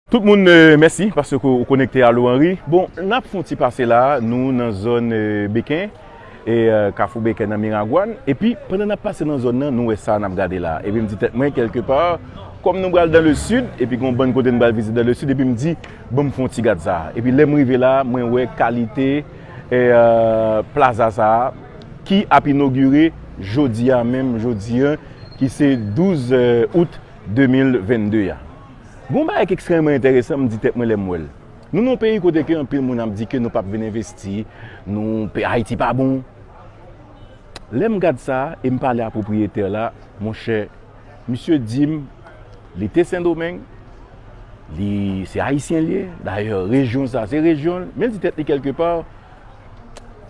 Tout moun mèsi paske ou konekte Allo Henri. Bon nap fon ti pase la nou nan zòn Beken e kafou Beken nan Miragwàn epi pandan nap pase nan zòn nan nou wè sa nap gade la epi mdi tèt mwen kèlke pa kòm nou pral dan le sid epi gon bann kote nou pral vizite dan le sid epi mdi banm fon ti gad sa epi lèm rive la mwen wè kalite plaza sa ki ap inogire jodi a menm jodi an ki se 12 out 2022 a. Gen yon bagay ki ekstrèmeman enteresan m di tèt mwen lè m wè l. Nou nan yon peyi kote ke anpil moun ap di ke nou pap vin envesti, nou, pe Ayiti pa bon. Lè m gad sa e m pale a pwopriyetè la, mon chè, misye di m li te Sendomeng, li, se Ayisyen l ye, dayè rejyon sa se rejyon l, men l di tèt li kèlke pa,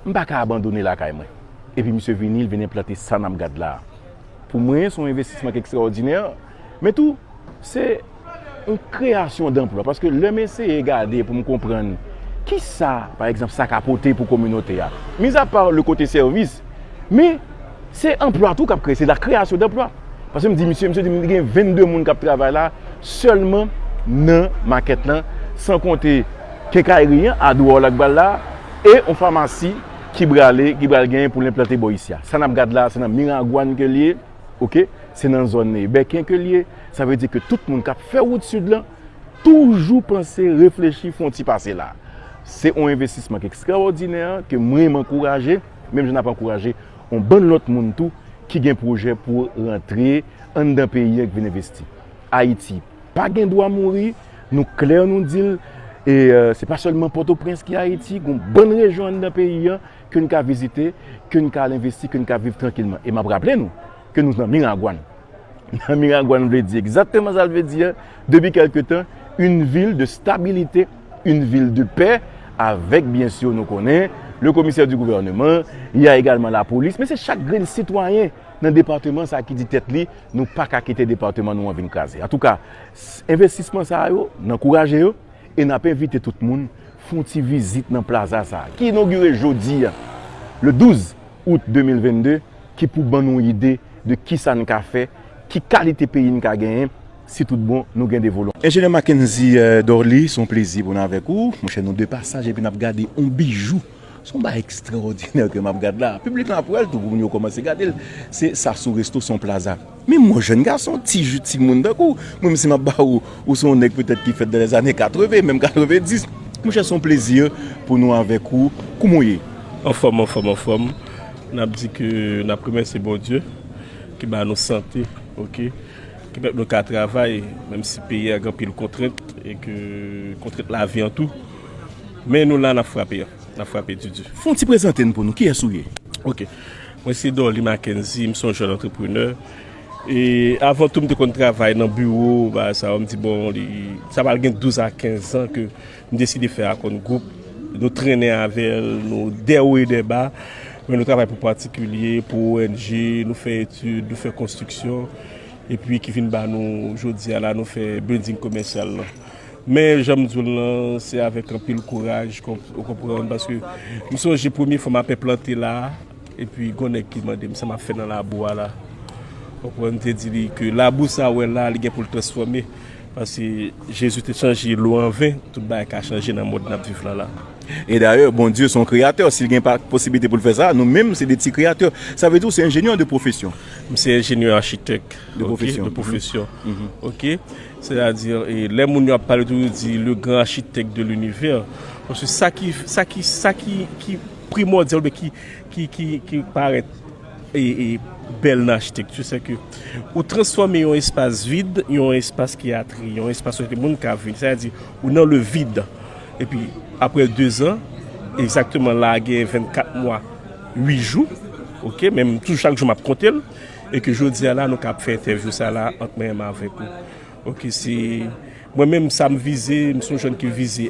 m pa ka abandone lakay mwen. Epi misye vini, l vin enplante sa n ap gad la a. Pou mwen, se yon envestisman ki ekstraòdinè. Men tou, se yon kreyasyon danplwa. Paske lè m eseye gade pou m konprann ki sa, pa egzanp, sa ka pote pou kominote a, mizapa le kote sèvis, men se anplwa tou k ap kreye, se la kreyasyon danplwa. Paske m di misye, misye di m li gen 22 moun k ap travay la sèlman nan makèt lan, san konte kenkayri an, Adwoòl ak Bal la, e yon famasi ki prale, ki pral gen pou l enplante bò isi a. Sa n ap gad la, se nan Miragwàn ke l ye. ok se nan zòn nan e bèken ke l ye sa vle di ke tout moun kap fè wout sid lan toujou panse reflechi fon ti pase la se yon envestisman ki ekstraòdinè ke mwen m ankouraje menm jan ap ankouraje yon bann lòt moun tou ki gen pwojè pou rantre anndan peyi an k vin envesti ayiti pa gen dwa mouri nou klè nou di l e se pa sèlman pòtoprens ki ayiti gon bann rejyon anndan peyi an ke n ka vizite, ke n ka al envesti, ke n ka viv trankilman. E m ap raple nou ke nou nan Miragwàn. Nan Miragwàn vle di egzakteman sa l vle di a, depi kèlke tan, yn vil de stabilite, yn vil de pè, avèk byen sur nou konnen le commissaire du gouvernement, y a egalman la polis, men se chak grenn sitwayen nan departeman sa ki di tèt li nou pa ka kite departeman nou an vin kraze. Antouka, envestisman sa yo, n ankouraje yo e n ap envite tout moun. Fon ti vizit nan plaza sa a, ki inogire jodi a, le 12 out 2022, ki pou ban nou ide de kisa n ka fè, ki kalite peyi n ka genyen, si tout bon nou gen de volonte. Enjenyè Mackendy Dorly, se yon plezi pou n avèk ou. Monchè, nou de pasaj epi n ap gade yon bijou Se yon bagay ekstraòdinè ke m ap gad la. Piblik lan ap wè l tou pou moun yo kòmanse gade l. Se Sassou Resto, se yon plaza. Men mwen jèn gason, ti ju, ti moun tankou w, mwen menm si m ap ba ou, ou se yon nèg petèt ki fèt dan lèzane 80, menm 90. Mon chè, se yon plezi pou nou avèk ou. Kouman ou ye? Anfòm, anfòm, anfòm. N ap di ke n ap remèsye Bondye ki ba nou sante, ok, ki pèmèt nou ka travay menm si peyi a gen anpil kontrent e ke kontrent lavi an tou. Men nou la nap frape yo. Nap frape di di. Fon ti prezante n pou nou. Kiyes ou ye? Ok. Mwen se Dorly Mackenzie. M se yon jèn antreprenè. E avan tou m te konn travay nan biwo bagay sa yo. M di bon li sa pral gen 12 a 15 zan ke m deside fè Akon Gwoup. Nou trennen avè l. Nou dè wo e dè ba. Men nou travay pou patikilye, pou ONG. Nou fè etid, nou fè konstriksyon. E pi ki vin ba nou jodi a la nou fè bilding komèsyal lan. Men jan m di w l lan, se avèk anpil kouraj, ou konprann, paske m sonje premye fwa m ape plante la a, epi gon nèg ki mande m sa m ap fè nan labou a la. Ou konprann, m te di li ke labou sa ou wè la a, li gen pou l transfòme, paske Jezi te chanje lou an ven, tout bagay ka chanje nan mond n ap viv lan la a. E dayè, Bondye se yon kreyatè, si l gen posiblite pou l fè sa, nou menm se de ti kreyatè. Sa vle di ou se enjenyè de pwofesyon? M se enjenyè achitèk de pwofesyon. Ok. Sètadi, lè moun yo ap pale tou yo di le gran achitèk de linivè. Paske sa ki, sa ki, sa ki, ki primòdyal oubyen ki, ki, ki, ki parèt e, e bèl nan achitekti se ke ou transfòme yon espas vid, yon espas ki atreye, yon espas kote moun ka vini. Sètadi, ou nan le vid. Epi, aprè dezan, egzakteman la a gen 24 mwa, 8 jou, oke, men m toujou chak jou m ap konte l. E ke jodi a la nou kab fè entèvyou sa la ant mwen menm avèk ou. Ok se mwen menm sa m vize, m son jèn ki vize.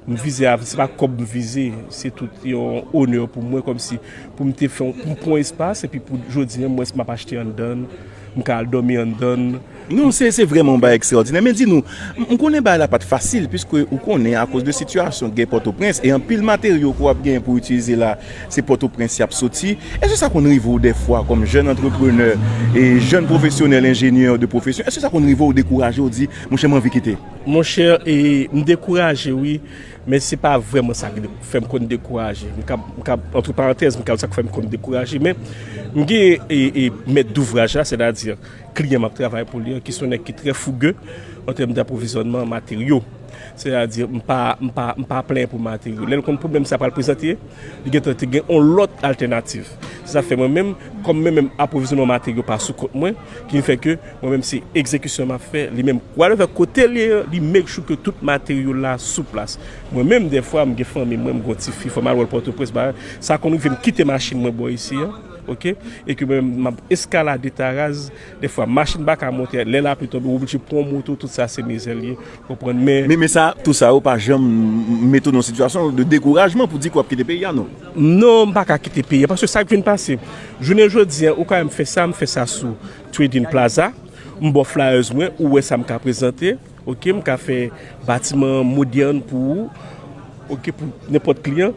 M vize avè, se pa kòb m vize, se tout yon onè pou mwen kòm si pou m te fè yon, pou m pran yon espas epi pou jodi an mwens m ap achte anndan l, m ka al dòmi anndan l. Non se se vrèman yon bagay ekstraòdinè men di nou m konnen bagay la pa t fasil piske ou konnen akoz de sitiyasyon gè Pòtoprens e anpil materyo ke w ap genyen pou w itilize la se Pòtoprens y ap soti èske sa konn rive w dèfwa kòm jèn antreprenè e jèn pwofesyonèl enjenyè de pwofesyon èske sa konn rive w dekouraje w di monchè m anvi kite Monchè e m dekouraje wi men se pa vrèman sa ki fè m konn dekouraje m ka m ka antre parantèz m ka di sa ki fè m konn dekouraje men m gen e e mèt douvraj la sètadi. Kliyan m ap travay pou li an, ki se yon nèg ki trè fouge an tèm dapwovizyònman materyo, sètadi m pa plenyen pou materyo. Lè l konn pwoblèm sa pral prezante, li gen tan te gen yon lòt altènativ. Se sa k fè mwen menm, kòm mwen menm apwovizyònman materyo pa sou kont mwen, ki fè ke mwen menm se egzekisyon m ap fè, li menm whatever kote l ye an, li make sure ke tout materyo la sou plas. Mwen menm dèfwa m gen fanmi mwen, m gen yon ti fi, fò m al wè l Pòtoprens, sa konn rive m kite machin mwen bò isi an. Ok e ke mwen menm map eskalade taraz defwa machin paka monte lè lapli tonbe ou oblije pran yon moto tout sa se mizè li ye ou konprann men. Men sa tout sa yo pa janm mete w nan yon sitiyasyon de dekourajman pou di ke wap kite peyi a non? Non m paka kite peyi a paske sak vin pase jounen jodi an ou ka wèm fè sa m fè sa sou trading plaza m baw flyers mwen ou wè sa m ka prezante Ok m ka fè batiman an modern pou ou ok pou nenpòt kliyan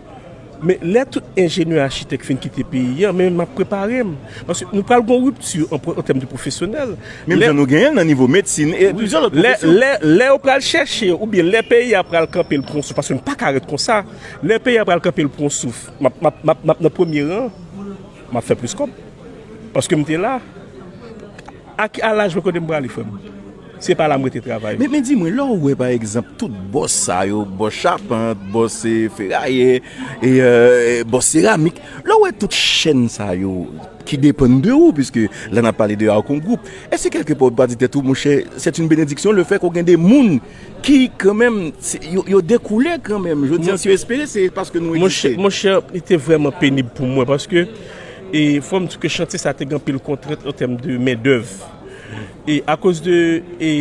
men lè tout enjenyè achitèk fin kite peyi an men map prepare m paske nou pral gon ripti an tèm de pwofesyonèl menm jan nou genyen nan nivo medsin e plizyè lòt pwofesyon lè lè yo pral chèche ou byen lè peyi a pral kanpe l pran souf paske nou paka ret konsa lè peyi a pral kanpe l pran souf map map map nan premye ran map fè plis kòb paske m te la. A ki laj mwen kote m prale frè m? Se pa la m rete travay m. Men di mwen, lè w wè pa egzanp tout bòs sa yo, bòs chapant, bòs ferayè, bòs seramik, lè w wè tout chèn sa yo ki depann de ou, piske la n ap pale de Arcon Group, èske kèlke pa w pa di tèt ou monchè, sèt in benediksyon le fè ke w gen de moun Ki kan menm, yo dekoule kan menm. Jodi an si yo espere se paske nou egziste. Mon chè, li te vreman penib pou mwen paske e fòm di ke chantye sa te gen anpil kontrent an tèm de men dèv. E akoz de e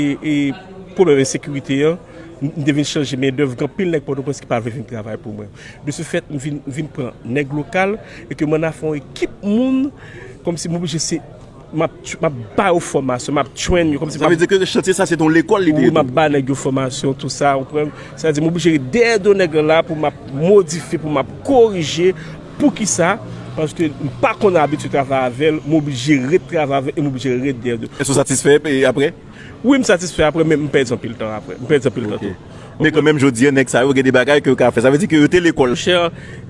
pwoblèm ensekirite an, m te vin chanje men dèv gen anpil nèg Pòtoprens ki pa vle vin travay pou mwen. De se fèt, m vin pran nèg lokal e ke m ann a fè yon ekip moun kòm si m oblije se. Map ba yo fòmasyon, map train yo. Sa vle di ke chantye sa se te yon lekòl li te? Wi, map ba nèg yo fòmasyon, tout sa, ou konprann? Sa vle di m oblije ret dèyè do nèg lan la pou map modifye, pou map korije. Poukisa? Paske m pa konn abitid travay avè l, m oblije ret travay avè l e m oblije ret dèyè do l. Èske ou satisfè apre? Wi, m satisfè apre men m pèdi anpil tan apre. M pèdi anpil tan tou. Men kan menm jodi an nèg sa yo gen de bagay ke yo ka fè. Sa vle di ke yo te lekòl. Chè,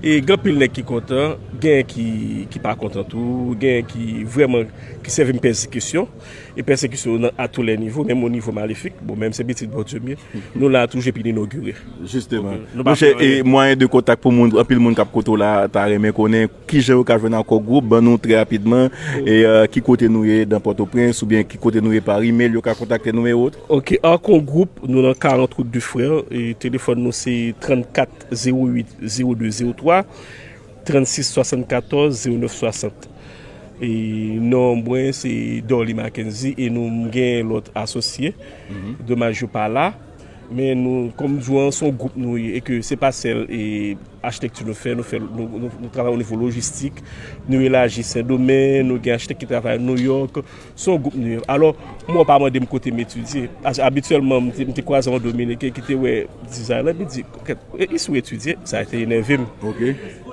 e gen anpil nèg ki kontan, genyen ki pa kontan tou, genyen ki vrèman ki sèvim pèsekisyon, e pèsekisyon yo nan atoulè nivo, menm o nivo malefik, bon menm se pitit Bondye m ye, nou la toujou epi n inogire. Jisteman. Mon chè, e mwayen de kontak pou moun, anpil moun kap koute w la ta renmen konnen kijan yo ka jwenn ak Kò Gwoup, ban nou trè rapidman, e ki kote nou ye dan Pòtoprens, oubyen ki kote nou ye par email yo ka kontakte nou e. Ok Arcon group nou nan 40 route du frère téléphone nou se 34 08 02 03 36 74 09 60 e non mwen se Dorly Mackenzie e nou gen lòt asosye domaj yo pa la men nou kòm m di w an se yon group nou ye e ke se pa sèl e achitekti nou fè nou fè nou travay o nivo lojistik nou elaji sendomeng nou gen achitek ki travay New York. Se yon gwoup nou ye. Alò, mwen pa mande m kote m etidye. Paske abityèlman, m te kwaze yon Dominiken ki te wè dizay la, epi l di, E isi w etidye? Sa te enève m.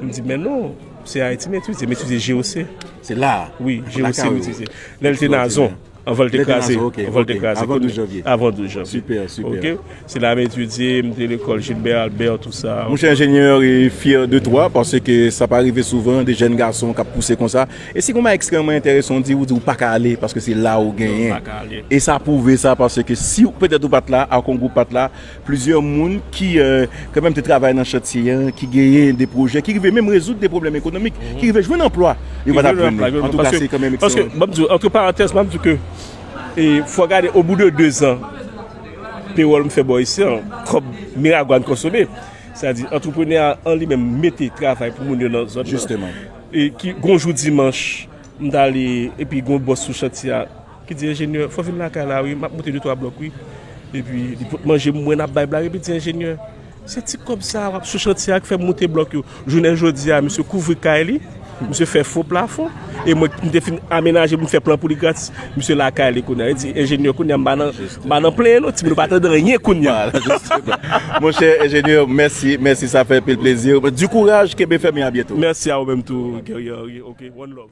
M di, Men non, se Ayiti m etidye. M etidye GOC. Se la a? Wi, GOC m etidye. Lè l te Nazon, anvan l te kraze. Avan 12 janvye. Avan 12 janvye. Sipè, sipè. Se la m etidye, m te lekòl Gilbert Albert tout sa. Mon cher ingénieur e fier de toi parce que sa pa rive souvan de jèn gason kap pouse konsa e si gon bagay extrèman entèresan ou di ou di ou paka ale paske se la ou genyen e sa pwouve sa parce que si ou petèt ou pat la ak yon gwoup pat la plizyè moun ki kan mèm te travay nan chantye an ki genyen de pwojè ki rive menm rezoud de pwoblèm ekonomik ki rive jwenn anplwa yo patap jwenn li antouka se kan mèm extrèman paske map di ou antre parantèz map di ke e fò gade obou de 2 zan. Pewòl m fè bò isi an, kòb Miragwàn konsome. Sa di, antreprenè a an li menm mete travay pou moun yo nan zòn nan. E ki gon jou dimanch, m ta ale epi gon bòs sou chantye a ki di enjenyè, fò vin lakay la wi, m ap monte de twa blòk wi. Epi li pot manje m mwen ap bay blag epi di enjenyè. Se ti kòb sa a wap sou chantye a ki fè moute blòk yo. Jounen jodi a misye kouvri kay li, misye fè fo plafon e mwen ki m te fin amenaje pou m fè plan pou li gratis, misye lakay li kounye a. Li di, Enjenyè kounye a m pa nan m pa nan plenyen non, timoun yo pa tande anyen kounye a. Monchè enjenyè, mèsi, mèsi sa fè anpil plezi. Du kouraj, kenbe fèm e a byento. Mèsi a ou menm tou Guerrier Henri ok, one love.